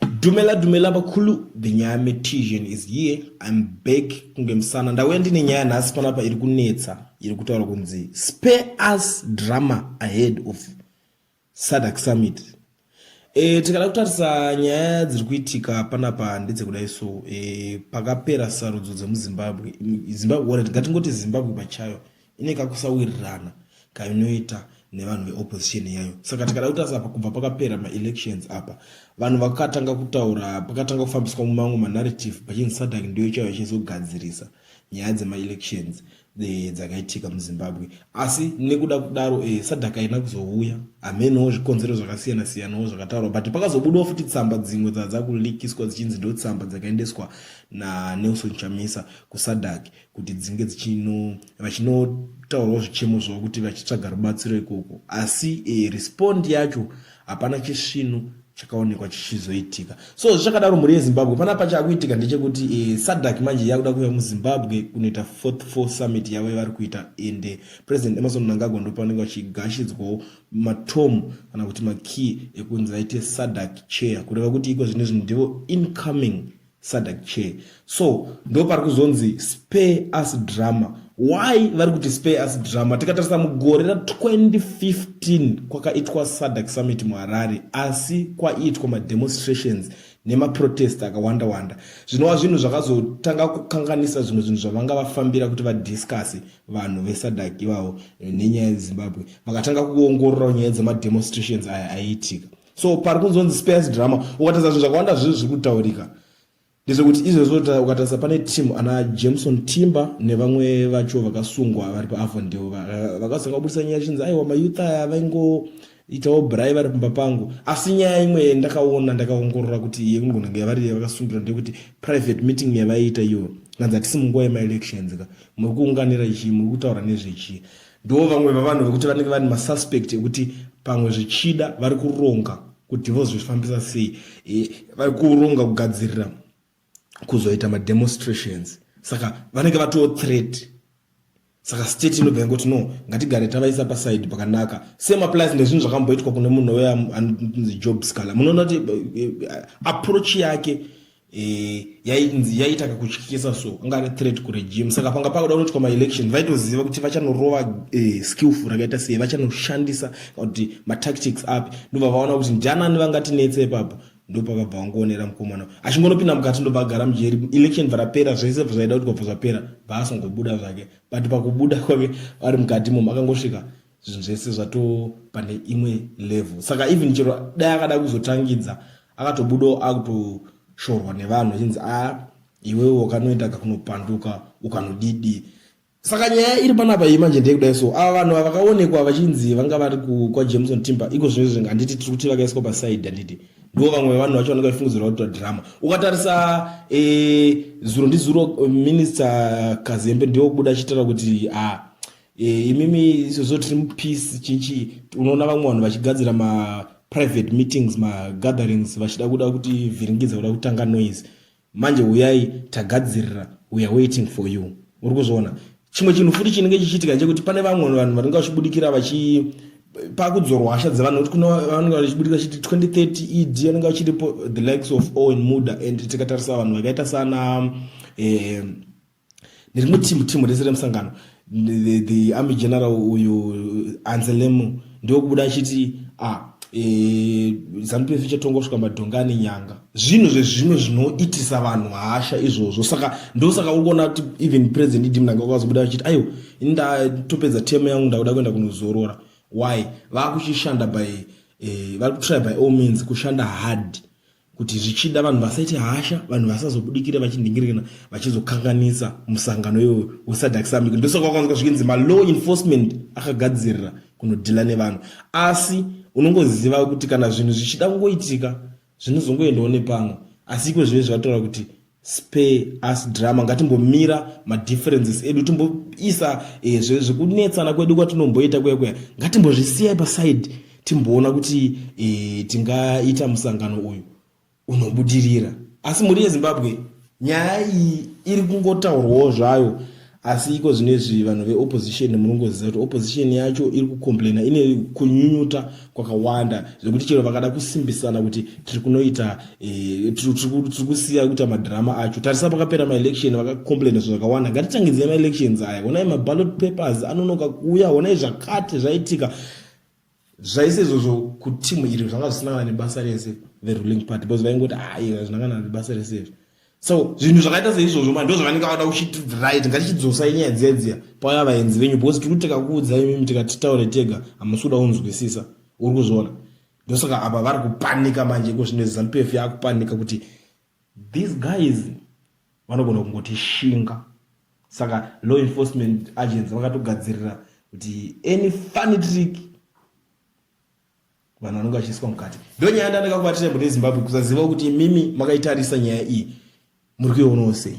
Dumela dumela vakulu the nyaya metision is here I'm back kunge musana ndauya ndine nyaya nhasi panapa iri kunetsa iri kutaura kunzi spare us drama ahead of sadak summit e, tikada kutarisa nyaya dziri kuitika panapa ndedzekudai so e, pakapera sarudzo dzemuzimbabwe zimbabwe ngatingoti zimbabwe pachayo ine kakusawirirana kainoita nevanhu veopposition yayo saka tikada kutarisa apa kubva pakapera maelections apa vanhu vakatanga kutaura pakatanga kufambiswa mumamwe manarrative pachinzi sadak ndiyo chaiyo chizogadzirisa nyaya dzemaelections eh, dzakaitika muzimbabwe asi nekuda kudaro eh, sadak haina kuzouya hamenowo zvikonzero zvakasiyana siyanawo zvakataurwa but pakazobudawo futi tsamba dzimwe dzadza kulikiswa dzichinzi ndo tsamba dzakaendeswa nanelson chamisa kusadak kuti dzinge dzichino vachinotaurawo zvichemo zvavo kuti vachitsvaga rubatsiro ikoko asi e, respond yacho hapana chisvinu chakaonekwa chichizoitika so zvichakadaro mhuri yezimbabwe pana pacha akuitika ndechekuti e, eh, sadak manje yakuda kuuya muzimbabwe kunoita fourth four summit yavo yavari kuita ende eh, president emerson mnangagwa ndo pavanenge vachigashidzwawo matom kana kuti makey ekunzi vaite sadak chair kureva kuti iko zvine zvinhu ndivo incoming Sadak chair so ndo pari kuzonzi spare us drama why vari kuti spare us drama tikatarisa mugore ra 2015 kwakaitwa sadak summit muharare asi kwaiitwa mademonstrations nemaprotest akawanda wanda zvinova zvinhu zvakazotanga kukanganisa zvimwe zvinhu zvavanga vafambira kuti vadiscase vanhu vesadak ivavo nenyaya yezimbabwe vakatanga kuongorora nyaya dzemademonstrations aya aiitika so pari kunzonzi space drama ukatarisa zvinhu zvakawanda zvinhu zviri kutaurika ndezvekuti izvezvo ukatarisa pane team ana jameson timber nevamwe vacho vakasungwa vari paavondel vakazanga kubudisa nyaya chinzi aiwa mayouth aya vaingoitawo brai vari pamba pangu asi nyaya imwe ndakaona ndakaongorora kuti yekungonanga yavari vakasungira ndeyekuti private meeting yavaiita iyo nanzi hatisi munguva yemaelections ka muri kuunganira chii muri kutaura nezvechii Ndiwo vamwe vavanhu vekuti vanenge vane masuspect ekuti pamwe zvichida vari kuronga kuti vozvifambisa sei e, vari kuronga kugadzirira kuzoita mademonstrations saka vanenge vatowo threat saka state inobva yangoti no ngatigare tavaisa paside pakanaka same applies nezvinhu zvakamboitwa kune munhu uya anonzi job scaler munoona kuti eh, eh, approach yake Eh, yainzi yaita kakutyisa so ungari threat kuregime saka panga pakuda kunoitwa maelection vaitoziva kuti vachanorowa eh, skillful rakaita sei vachanoshandisa kuti matactics api ndobva vaona kuti ndianani vangatinetse ipapo ndopavabva vangoonera mukomana achingonopinda mukati ndobva agara mujeri election bvarapera zvese zvaida kuti kwabva zvapera bva asingobuda zvake but pakubuda kwake ari mukati momo akangosvika zvinhu zvese zvato pane imwe level saka even chero dai akada kuzotangidza akatobudawo akutoshorwa nevanhu achinzi a ah, iwewe wakanoenda kakunopanduka ukanodidi saka nyaya iri panapa iyi manje ndeyekudai so ava vanhu vakaonekwa vachinzi vanga vari kwajameson timber iko zvino zvinge handiti tiri kuti vakaiswa pasaidi handiti ndivo vamwe vevanhu vacho vanenge vachifungidzirwa kuita drama ukatarisa e, zuro ndizuro minista kazembe ndiwo kubuda achitaura kuti a ah, Eh, imimi izvozvo tiri mupeace chinchi unoona vamwe vanhu vachigadzira maprivate meetings magatherings vachida kuda kuti vhiringidza kuda kutanga noise manje uyai tagadzirira weare waiting for you uri kuzviona chimwe chinhu futi chinenge chichiitika chekuti pane vamwe vanhu vanenge vachibudikira vachi pakudzorwa hasha dzevanhu kuti kunavanenge vachibudikira chiti 2030 ed anenge vachiripo the likes of owen muda and tikatarisa vanhu vakaita sana eh, nerimwe timu timu rese remusangano the, the army general uyu anzelemu ndiwo kubuda achiti ah, e, zanu pf ichatonga kusvika madhonga ane nyanga zvinhu zvezvimwe zvinoitisa vanhu hasha izvozvo saka ndosaka uri kuona kuti even president idi mnanga wakazobuda achiti aiwa ini ndatopedza temu yangu ndakuda kuenda kunozorora why vakuchishanda by e, vari kutry by all means kushanda hard kuti zvichida vanhu vasaite hasha vanhu vasazobudikire vachinhingirirana vachizokanganisa musangano iwoyo wesadak summit ndosaka kwakanzwa zviinzi malaw enforcement akagadzirira kunodhila nevanhu asi unongoziva kuti kana zvinhu zvichida kungoitika zvinozongoendawo nepamwe asi iko zvive zvataura kuti spare us drama ngatimbomira madifferences edu timboisa eh, zvekunetsana kwedu kwatinomboita kuya kuya ngatimbozvisiyai paside timboona kuti eh, tingaita musangano uyu unobudirira asi mhuri yezimbabwe nyaya iyi iri kungotaurwawo zvayo asi iko zvino izvi vanhu veopposition munongoziva kuti opposition yacho iri kucomplaina ine kunyunyuta kwakawanda zvekuti chero vakada kusimbisana kuti tiri kunoita eh, tiri kusiya kuita madhirama acho tarisa pakapera maelection vakacomplaina zvo zvakawanda ngatitangidzei maelections aya honai maballot papers anonoka kuuya honai zvakati zvaitika zvaise izvozvo kutimu iri zvanga zvisina kana nebasa rese the ruling party because vaingoti ayi hazvina kana nebasa rese izvi so zvinhu zvakaita seizvozvo ma ndo zvavanenge vada kuchiti right ngatichidzosa inyaya dziya dziya paya vaenzi venyu because tiri kuteka kuudza imimi tikati taure tega hamusi kuda kunzwisisa uri kuzviona ndosaka apa vari kupanika manje iko zvino zampf yakupanika kuti These guys vanogona kungoti shinga saka law enforcement agents vakatogadzirira kuti any funny trick vanhu vanenge vachiiswa mukati ndo nyaya ndandakakubatira bude zimbabwe kusaziva kuti imimi makaitarisa nyaya iyi muri kuionawo sei